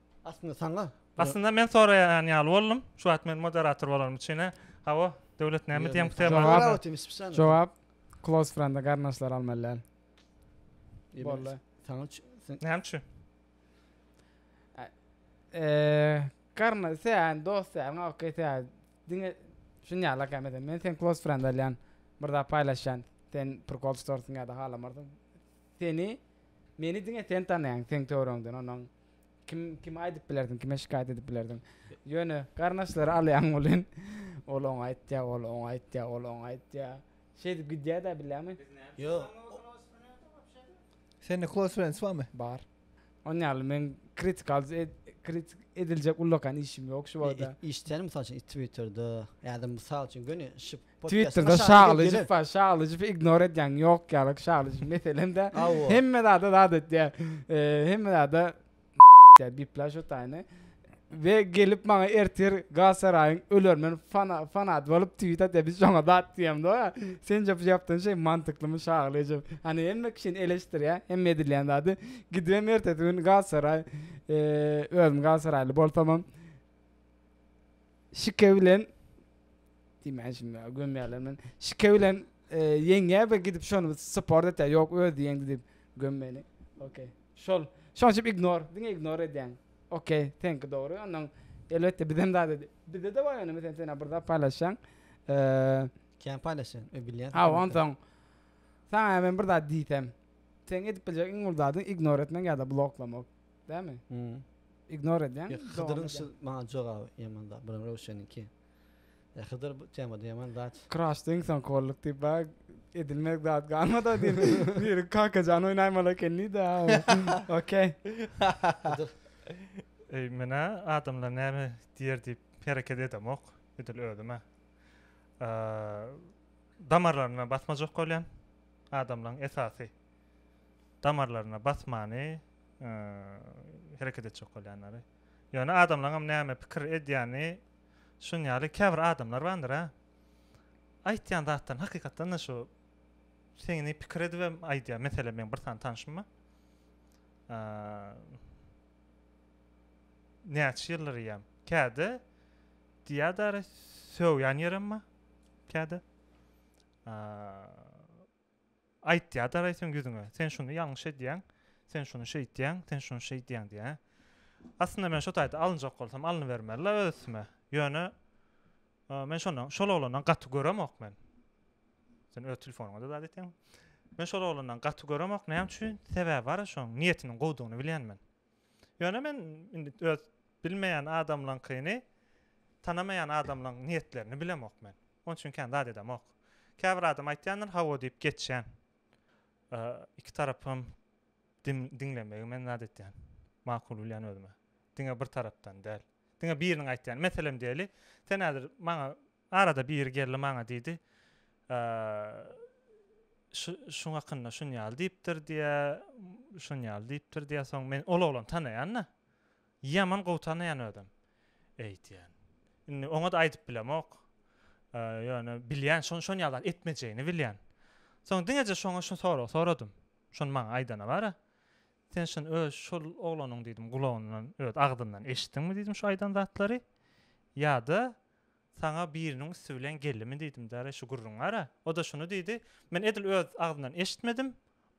Aslynda saňa Aslynda men soraýan ýaly boldum. Şu wagt men moderator bolanym üçine. Hawa, Döwlet näme diýen bu temada? Jogap. Bravo Timis Spişan. Jogap. Close friend-e garyndaşlary almaly däl. Boldy. Saňa üç- sen- Näme üçin? Eee, garyndaş, sen dost däl, ňa okey sen. Diňe şuny ýaly kem eden. Men seni close friend alýan. Bir zat paýlaşýan. Sen prikol tutarsyň ýa-da halamarsyň. Seni, meni diňe sen tanaýaň seň töweregiňden onuň. Kim kime aýdyp bilerdiň, kime şikaýat edip bilerdiň? Ýöne garyndaşlary alýaň welin, ol oňa aýtýar, ol oňa aýtýar, ol oňa aýtýar. Şeýdip gidýär-de, bilýärmi? Ýok. Sende close friends barmy? Bar. Onuň ýaly meň kritikal kritik ediljek ullakan işim ýok şu wagta. Işdäni mysal üçin Twitterde ýa-da mysal üçin göni şyp Twitterda şalyjyp bar şalyjypy ignor edýäň ýok ýaly şalyjyp meselemde hemme zada zat etýär hemme zada bipla şu taýny we gelip maňa ertir galsaraýyň ölermen fanat bolup tweet atýar biz şoňa zat diýemdo sen jopy ýapdyň şeý mantyklymy şalyjyp hany hemme kişini eleşdirýär hemme edilýän zady gidibem ertesi gün galsaraý özüm galsaraýly bolsamam Şike bilen diýmän şunda gömýärler men. Şike bilen e, ýeňýär we gidip şony support etýär. Ýok özi ýeňdi diýip gömmeli. Okey. Şol. Şoň üçin ignore. Diňe ignore edýän. Okey. Senki dogry. Ondan elbetde bizem zat edi. Bizde de bar ýöne mesela sen bir zat paýlaşýaň. E, Kän paýlaşýan, ö bilýän. ha onsoň sana men bir zat diýsem, sen edip biljek iň uly zadyň ignore etmek ýa-da bloklamak. Dämi? Ignor edýän. Ýok, Hydyryň şu maňa jogaby ýaman zat, biram Röwşeniňki. Ýa Hydyr bu temada ýaman zat. Kraşda iň soňky bolduk diýip ba edilmez zat galmada diýip. Biri Kakajan oýnaýmaly eken diýdi. Okey. Hydyr. Eý menä adamlar näme diýer diýip hereket edemok, edil özüm-ä. Damarlaryna basmajak bolýan adamlaryň esasy. damarlaryna basmany hereket etjek bolýanlary. Ýöne adamlaňam näme pikir edýäni şun ýaly käbir adamlar bandyr-a. Aýtýan zatlaryny hakykatdan-da şu seňňi pikir edibem aýdýar. Meselem meň bir sany tanşym bar. Näçe ýyldyr iýýän. Käde diýýädary söwýän ýerem bar. Käde. Aýtýadar-aý seň ýüzüňe, sen şuny ýalňyş edýäň, sen şuny şeýtýäň, sen şuny şeýdýäň diýýä. Aslynda men şo taýda alynjak bolsam alnybermeli-la öz üstüme. Ýöne men şondan, şol oglandan gaty göremok men. Sen öz telefonyňa-da zat etýäň. Men şol oglandan gaty göremok, näme üçin? Sebäbi bar-a şoň, niýetiniň gowudygyny bilýän men. Ýöne men indi öz bilmeýän adamlaňkyny, tanamaýan adamlaň niýetlerini bilemok men. Oň üçin kän zat edemok. Käbir adam aýtýandyr, hawa diýip geçýän. Ä, iki tarapy hem dim, diňlemegi men zat etýän. Makul bilýän özüme. Diňe bir tarapdan däl. Diňe biriniň aýtýany. Meselem diýeli, sen häzir maňa Arada biri geldi maňa diýdi, Şuň hakynda şun ýaly diýipdir diýýä, şun ýaly diýipdir diýýä. Soň men ol oglany tanaýan-da. Ýaman gowy tanaýan özem. Eýdýän. Indi oňa-da aýdyp bilemok. Ýöne bilýän, şon şon ýaly zat etmejegini bilýän. Soň diňeje şoňa şu soragy soradym. Şony maňa aýdana bar-a. Sen şuny öz şol oglanyň diýdim gulagyndan, öz agzyndan eşitdiňmi diýdim şu aýdan zatlary? Ýa-da Saňa biriniň üsti bilen geldimi diýdim däl-ä şu gürrüňi ara. O-da şuny diýdi. Men edil öz agzyndan eşitmedim.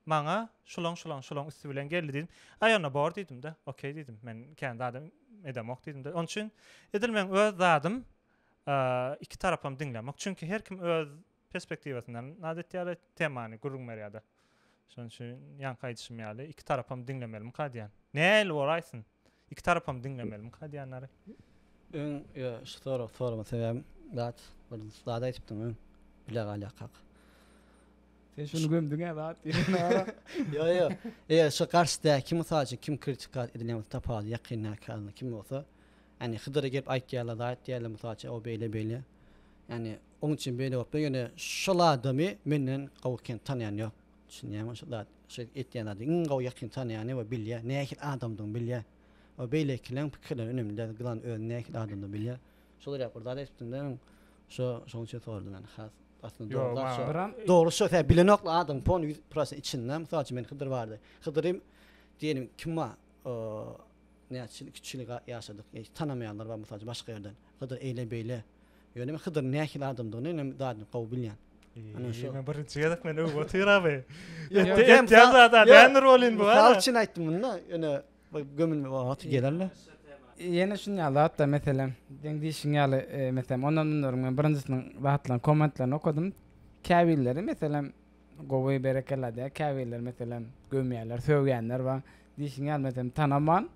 Maňa şulaň-şulaň-şulaň üsti bilen geldi diýdim. Aý onda bor diýdim-de. Okey diýdim. Men kän zadam edemok diýdim-de. Onuçin edil meň öz zadym iki tarapam diňlemek. Çünki her kim öz perspektiwasyndan naz etýärler, temany gürrüň berýärler. Şonuň üçin ýaňky aýdyşym ýaly, iki tarapam diňlemelimikä diýýän. Nähili bor aýtsyn? Iki tarapam diňlemelimikä diýýänleri. Öň ýa şu sorag sorma sebäbim zat bir zat aýdypdyň öň bile galýakak. Sen şuny gömdüň-ä zat diýen. Ýok ýok. Eger şu garşydaky mysal üçin kim kritika edilýän bolsa tapaly ýakyndaky adam kim bolsa, ýagny Hydyra gelip aýtýarlar zat diýýärler mysal üçin o beýle beýle. Ýagny Oň üçin beýle bopdur ýöne şol adamy menden gowy kim tanýan ýok düşünýäňmi şo zat şo etýän zady iň gowy ýakyn tanýany we bilýä nähili adamdygyny bilýä we beýlekileň pikirleri önemli däl gylan özüni nähili adamdygyny bilýä şol ýaly bir zat etipdimde men şo şoň üçin soradym ýöne has aslynda dogry zat şo dogry şo sen bilenokla adam pony ýüz prosen içinde mysal üçin men hydyr bardy hydyry diýelim kim bar näçe ýyl iki üç ýyl ýaşadyk hiç tanamaýanlar bar mysal üçin başga ýerden hydyr eýle beýle Ýöne men Hydyryň nähili adamdygyny inem dadyn gowy bilýän. Ine şo. Men birinji gezek men öw otyr abi. Ýöne ýa zada näme rolin bu? Mysal üçin aýtdym munda ýöne gömülme wagty gelerle. Ýene şunýa zatda meselem seň diýşiň ýaly meselem ondan mundan men birinjisiniň zatlaryny kommentlerini okadym. Käbirleri meselem gowy berekella diýýär. Käbirleri meselem gömýärler, sögýänler bar. Diýşiň ýaly meselem tanaman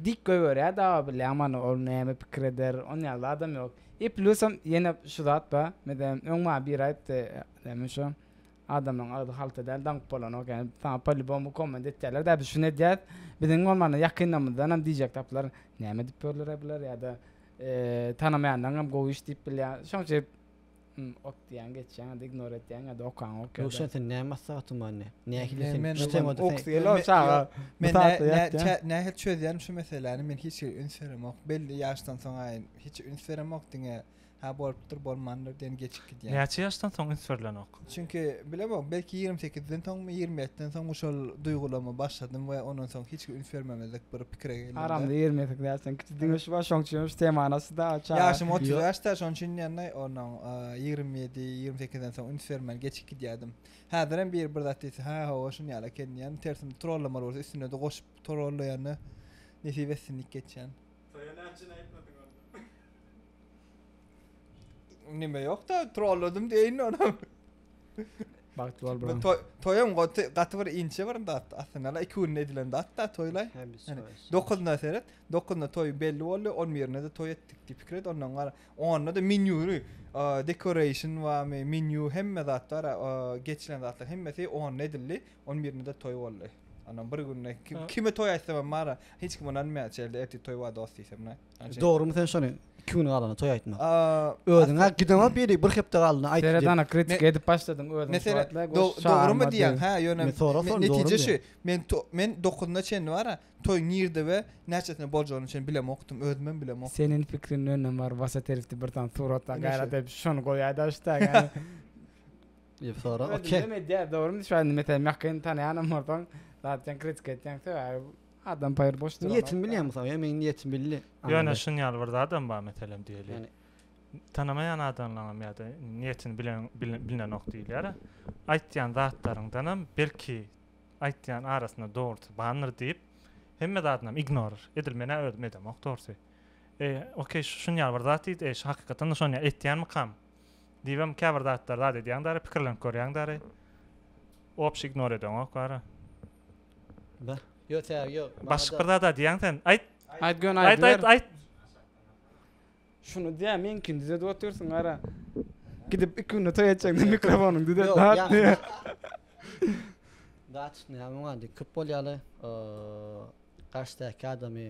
Dik goýberýär daba bilýän many ol näme pikir eder on ýaly adam ýok i plusam ýene şu zat bar meselem öň maňa biri aýtdy näme şu adamlaň agzy halta däl daňyp bolanok ýa saňa polibomu komment etýärler dä biz şuny edýäs biziň bolmanda ýakynlarymyzdanam diýjek tapylar näme edip ýörler-ä bular ýa-da tanamaýanlaryňam gowy iş diýip bilýär şoň üçin Hum ot diýýäň geçýäň indi ignor etýäň ýada okaňok ýada. Ruşen sen näme maslahat tuman ne? Nähili sen Men- çütem men- oda sen. Ýok, çaga. Men Bu saatda nä- ýat, nä- nähili çözýärin şu meseläni men hiç ýere üns beremok. Belli ýaşdan soň-a hiç üns beremok diňe ha bolupdyr bolmandyr diýen geçip gidýän. Näçe ýaşdan soň üns berlenok? Çünki bilemok belki ýigrimi sekizden soňmy ýigrimi ýetiden soňmy şol duýgulama başladym we ondan soň hiç üns bermemezlik bir pikire geldim. Aramyzda ýigrimi sekiz ýaşdan kiçi Diňe şu bar şoň üçinem şu temany açdy-da Çary. Ýaşym otuz bäşde, şoň üçin ýanna onuň ýigrimi ýedi, ýigrimi sekizden soň üns bermän geçip gidýärdim. Häzirem biri bir zat diýse, hä, hawa, şuny ýaly eken diýýän, tersine trollamaly bolsa üstüne-de goşup trollaýan-da, nesip etsin diýip geçýän. Toýa nätjeni aýtmadyň onda? Nime yok da trolladım deyin onu. Bak troll bro. Toy, toyum goty gaty bir inçe bir dat. Aslında la 2 gün edilen dat da toylay. Yani 9'unda seret. 9'unda toy belli oldu. 11'inde de toy ettik diye fikir et. Ondan gara. 10'unda da menü decoration var mı? Menü hemme zat var. Geçilen zatlar hemmesi 10 edildi. 11'inde de toy oldu. Ondan bir günde kime toy etsem mara hiç kim onanmaya çelde erti toy var dost diysem ne. Dogrymy sen şony iki gün galana toy aýtma. Özüňe gidema biri bir hepde galana aýt. Seredana kritik edip başladyň özüň. Mesele dogrymy diýen ha ýöne netije şu. Men men 9-na çenli bara toy nirde we näçesine boljagyny üçin bilemokdym özümem bilemok. Seniň pikriň önden bar wasa teripdi bir tane suratda gaýrat edip şony goýaý da şu tag. Ýe sora okey. Dogrymy diýen dogrymy şu an metel mähkeni tanýanam bolsaň zaten kritik etýän söz. Adam paýr boş durana. Niýetimi bilýäň mysal, ýa meniň niýetimi bildi. Ýöne şuny ýaly bir zadam bar meselem diýeli. Tanamaýan adamlaňam ýa-da niýetini bilen bilinenok diýilýär-ä. Aýtýan zatlaryňdanam belki aýtýan arasynda dogrusy bandyr diýip hemme zadynam ignor edil men-ä özüm edemok dogrusy. Eý, okey şuny ýaly bir zat diýdi, eý şu hakykatanda şony ýaly etýänmikam? Diýibem käbir zatlar zat edýäň däri, pikirlenip görýäň däri. Obşi ignor edeňok wara. Başlyk bir zat aýdýaň sen. Aýt. Aýt göni aýdyber. Aýt aýt aýt. Şuny diýä meňkini düzedip otyrsyň gara. Gidip iki günde toý etjekdiň mikrofonyňy düzet dat diýä. Datçyny ýa muňa indi köp bolýaly. Garşydaky adamy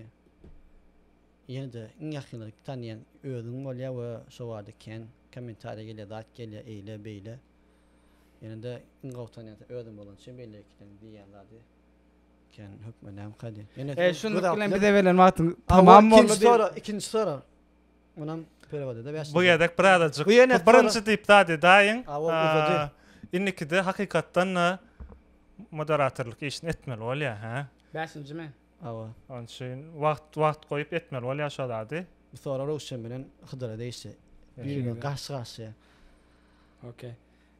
ýene-de iň ýakyndaky tanýan özüň bolýa we şo bada kän kommentariýa gelýä, zat gelýä, eýle, beýle. Ýene-de iň gowy tanýan özüň bolan üçin belli iki seň diýýän zady eken hökman näme kady. Ýene şunluk bilen bize berlen wagtyň tamam boldy. Ikinji sora, ikinji sora. Munam perewoda bäş. Bu gezek birazajyk. Bu birinji diýip zady daýyň. Indikide hakykatdan-da moderatorlyk işini etmeli bolýar, hä? Bäşinjimi? Hawa. Onuň üçin wagt wagt goýup etmeli bolýar şo zady. Bu sora Röwşen bilen Hydyra degişli. Biri-birine garşy-garşyya. Ok.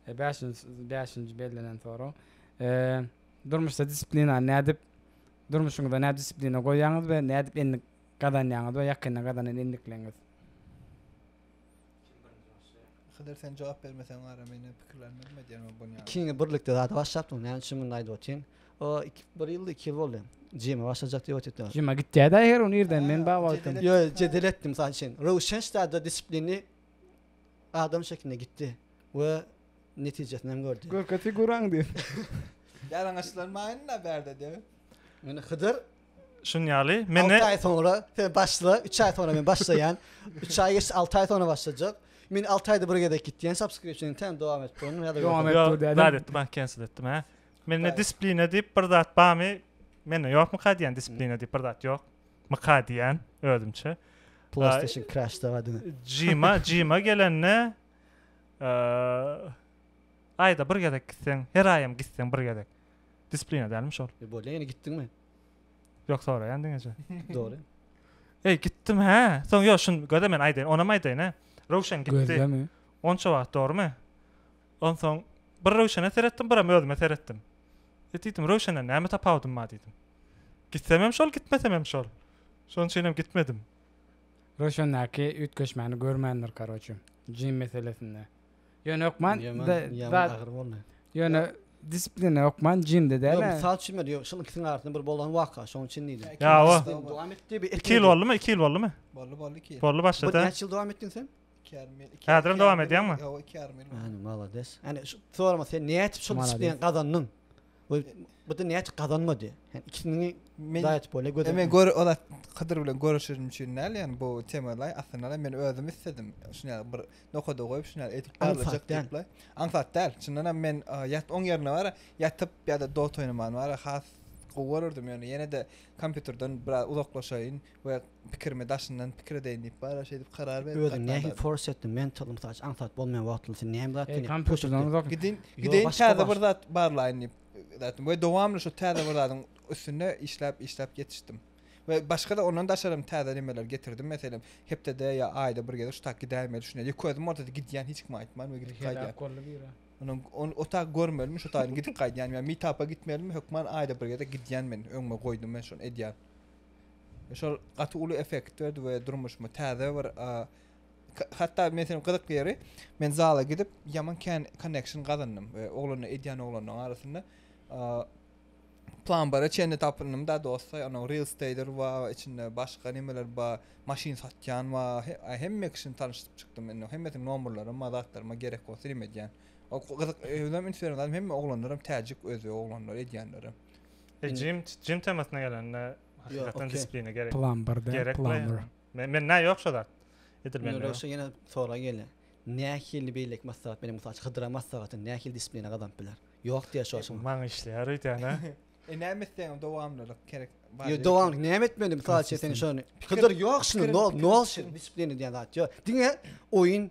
Bäşinji bäşinji bellenen sorag. Durmuşda disiplinany nädip durmuşyňyzda nädip disiplina goýýaňyz we nädip endik gazanýaňyz we ýakynda gazanan endikleňiz? Hydyr sen jogap bermeseň ara men hem pikirlenme nima edýän bolup bolýan. Ikimiz birlikde zada başlapdyk näme üçin munda aýdyp otyryn. O iki bir ýyldy iki ýyl boldy. Jyma başlajak diýip otyrdyk. Jyma gitýädä her gün irden men baba aýtdym. Ýok jedel etdim mysal üçin. Röwşen ştada disiplini. Adam şeklinde gitdi we netijesini hem gördi. Görke figuraň diýip. Ýalaňaçlanmaýyn-da bärde debip. Indi Hydyr. Şunuň ýaly. Men. Alty aý soňra sen başla. Üç aý soňra men başlaýan. Üç aý geçdi, alty aý soňra başlajak. Men alty aýda bir gezek gitýän subscription täze dowam edip durun. Dowam et dur dädem. Bäri etdim, cancel etdim hä. Mende disipline diýip bir zat barmy? Mende ýokmyka diýýän disipline diýip bir zat ýok. myka diýen özümçe. PlayStation Crash da adyny. Jima, Jima gelende aýda bir gezek gitseň, her aýam gitseň bir gezek. Disiplina dälmi şol? E bolýa, ýene gitdiňmi? Ýok, soraýan diňeje. Dogry. Ey, gitdim hä. Soň ýok, şun göze men aýdaýyn, onam aýdaýyn hä. Röwşen gitdi. Gözlemi? Onça wagt dogrumy? Onsoň bir Röwşene seretdim, biram özüme seretdim. E diýdim, Röwşenden näme tapawudym bar diýdim. Gitsemem şol, gitmesemem şol. Şonuň üçinem gitmedim. Röwşendäki üýtgeşmäni görmändir karoçe, Jim meselesinde. Ýöne hökman Ýöne disiplina hökman Jimde däl. Ýok, mysal üçin ýok, şol ikisiniň arasynda bir bolan waka, şonuň üçin diýdim. Ýa o. Dowam etdi. Iki ýyl boldumy? Iki ýyl boldumy? Boldy, boldy iki ýyl. Boldy başda-da. Bu näçe ýyl dowam etdiň sen? Häzirem dowam edýäňmi? Ýok, iki ýarym ýyl. Hany, malades. Hany, şu sorama sen näçe şol disiplini gazandyň? Bu bu da näçe gazanmady? Sen ikisini daýat bol, göz. Men gör, o zat Hydyr bilen görüşenim üçin näl, ýani bu temada aslynda men özüm istedim. Şuny ýa bir nokada goýup, şuny edip barlajak diýip. Aňsat däl. Çyndan hem men ýat oň ýerine bar, ýatyp ýa-da dota oýnamany bar, has gowy görerdim. Ýöne ýene-de kompýuterden biraz uzaklaşaýyn. we pikirimi daşyndan pikir edeýin diýip bara şeýdip karar berip Özüň nähili force etdiň mental mysal üçin aňsat bolmaýan wagtynda sen näme zat Eý kompýuterden uzak gidin gidin täze bir zat barlaýyn diýip zatym we dowamly şu täze bir zadyň üstünde işläp işläp ýetişdim we başga da ondan daşarym täze nimeler getirdim meselem hepdede ýa aýda bir gezek şu tak gidäýmeli düşünýän ýa közüm ortada gidýän hiç kime aýtman we gidip gaýdýan Onuň on o tak görmelimi şu taýyny gidip gaýdýan ýa meetapa gitmelimi hökman aýda bir gezek gidýän men öňüme goýdum men şony edýän. Şol gaty uly effekt berdi we durmuşyma täze bir hatda men seni gyzyk ýeri men zala gidip ýaman kän connection gazandym we oglana edýän oglanlaryň arasynda plan bara çenli tapyndym da dostlar ýa onuň real stater we içinde başga nimeler ba maşyn satýan we hemme kişini tanyşdyryp çykdym indi hemmesiniň nomerlerim bar zatlaryma gerek bolsa rim edýän gyzyk özüm instagramda hemme oglanlaram täjik özbek oglanlar edýänlerim E jim jim temasyna gelende hakykatdan disiplina gerek. Plumber de plumber. Men men nä ýok şo zat. Edil men. Ýöne ýene sora gelýär. Nähili beýleki maslahat bilen mysal üçin hydyra maslahaty nähili disiplina gazanyp biler? Ýok diýýär şo şoňa. Maňa işleýär öýdýän a. E näme etseňem dowamlylyk gerek. Ýok dowamlylyk näme etmeli mysal üçin sen şony. Hydyr ýok şuny nol nol disiplina diýýän zat ýok. Diňe oýun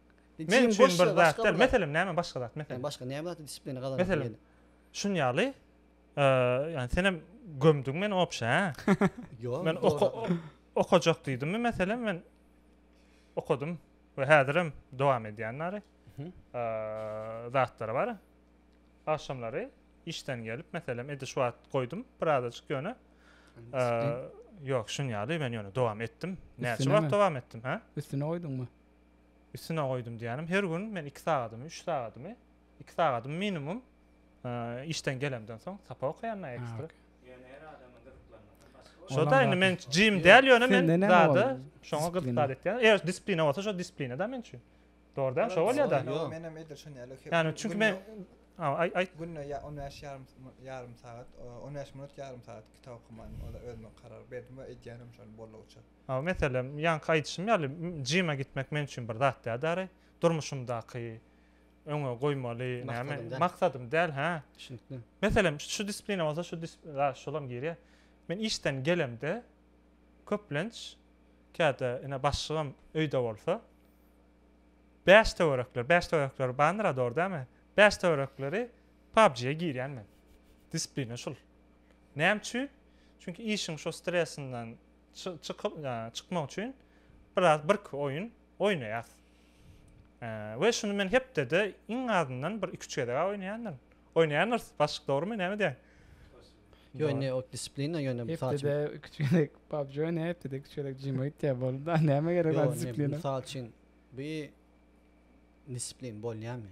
Men üçin bir zat däl. Meselem, näme başga zat? Meselem. Başga näme zat disiplina gazanyp bileli? Meselem, şun ýaly, ýagny senem gömdüň meni obşa, hä? Ýok. Men okajak diýdimmi meselem, men okadym we häzirem dowam edýän bary. Zatlar bar. Agşamlary işden gelip, meselem, indi şu wagt goýdum birazajyk ýöne. Ýok, şun ýaly, men ýöne dowam etdim. Näçe wagt dowam etdim, hä? Üstüne goýduňmy? Üstüne goýdum diýýänim, her gün men iki sagadymy, üç sagadymy, iki sagadymy minimum işden gelemden soň sapa okaýan ekstra. Ýöne her adamyň gyzyklanmasy başga. Şo-da indi men jim däl, ýöne men zada şoňa gyzyklar etýän. Eger disiplina bolsa, şo disiplina-da men üçin. Dogry däl, şo bolýa-da. Menem edil şon ýaly. Ýani çünki men aý-aý. Günde on bäş ýarym, ýarym sagat, on bäş minut ýarym sagat kitap okaman, o-da özüme karar berdim we edýänem şony boldugyça. Meselem, ýaňky aýdyşym ýaly, jyma gitmek men üçin bir zat däl däri. Durmuşymdaky öňe goýmaly näme, maksadym däl, hä. Düşünikli. Meselem, şu disiplina bolsa, şu disiplina, şolam girýär. Men işden gelemde, köplenç, käte ine başlygym öýde bolsa, bäş töwerekler, bäş töwerekler bandyr-a, dogry dälmi? Bäş töwerekleri PUBG-ä girýän men. Disiplina şul. Näme üçin? Çünki işiň şo stresinden, çykyp ya çykmak üçin biraz birki oýun oýnaýas. We şuny men hepdede iň azyndan bir iki-üç gezeg oýnaýandyryn. Oýnaýandyrys, başlyk dogrumy, näme diýýäň? Yo indi o disiplina ýöne mysal üçin. Hepdede iki çeyrek PUBG oýna, hepdede iki çeyrek Jim oýtýa bolda. Näme gerek o disiplina? Yo, mysal üçin bir disiplin bolýamy?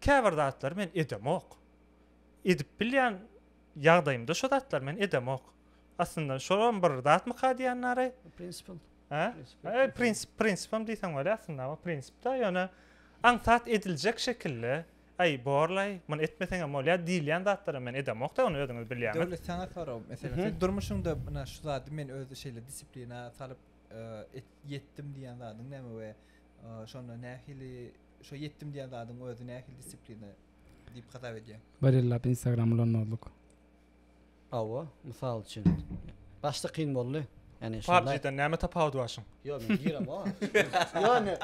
Käbir zatlary men edemok. Edip bilýän ýagdaýymda şo zatlary men edemok. Aslynda şolam bir zatmyka diýýän nary? Prinsipim. Hä? Prinsip, prinsipim diýseň bolýar aslynda bu prinsipde ýöne aňsat ediljek şekilde Aý borlaý, muny etmeseňem bolýar diýilýän zatlary men edemok-da, ony özüňiz bilýäňiz. Döwlet saňa sorag, meselem, sen durmuşyňda ynha şu zady men özde şeýle disiplina salyp ýetdim diýýän zadyň näme we Şonda nähili şo ýetdim diýen zadyň özi nähili disiplina diýip hasap edýäň? Bir ýyllap Instagram ulanmazlyk. Hawa, mysal üçin. Başda kyn boldy. Ýani şonda. PUBG-den näme tapawudy bar şuň? Ýok, men girem oňa. Ýani,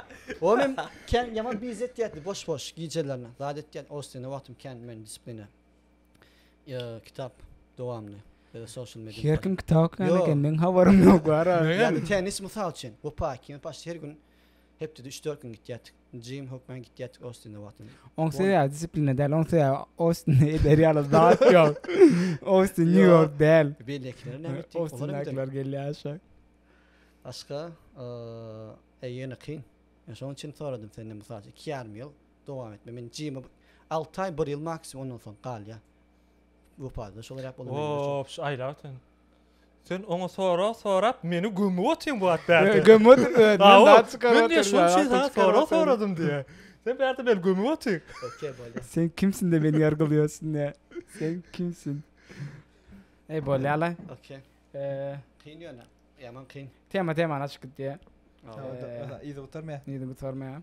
o men kän ýaman bizi etýärdi boş-boş gijelerine. Zat etýän, o üstüne wagtym kän men disiplina. Kitap dowamyny ya da social media. Her kim kitap okuyan eken, meň habarym yok bar a. Yani tenis mysal üçin, bu paýki ýa paşt her gün hepdede üç dört gün gitýärdik. Jim hokman gitýärdik Ostinde wagtynda. Oň sebäbi disiplina däl, oň sebäbi Ostinde eder ýaly zat ýok. Ostin New York däl. Beýlekiler näme etdi? Ostindekiler gelýär aşa. Başga eee ýene kyn. Men şoň üçin soradym senden mysal üçin iki ýarym ýyl dowam etme men jymy alty aý bir ýyl maksimum ondan soň galýa wepasda şolar ýap bolan ops aýla sen sen oňa sora sorap meni gömüp otyň bu at bärde gömüp otyň öt men zat çykaryp otyryn men şoň üçin sana sora soradym diýe sen bärde meni gömüp otyň okey bolýa sen kimsin de meni ýargylýarsyň ne sen kimsin ey bolýala okey kyn ýöne ýaman kyn tema temany açyp gitýä Yzy gutarmaýa. Yzy gutarmaýa.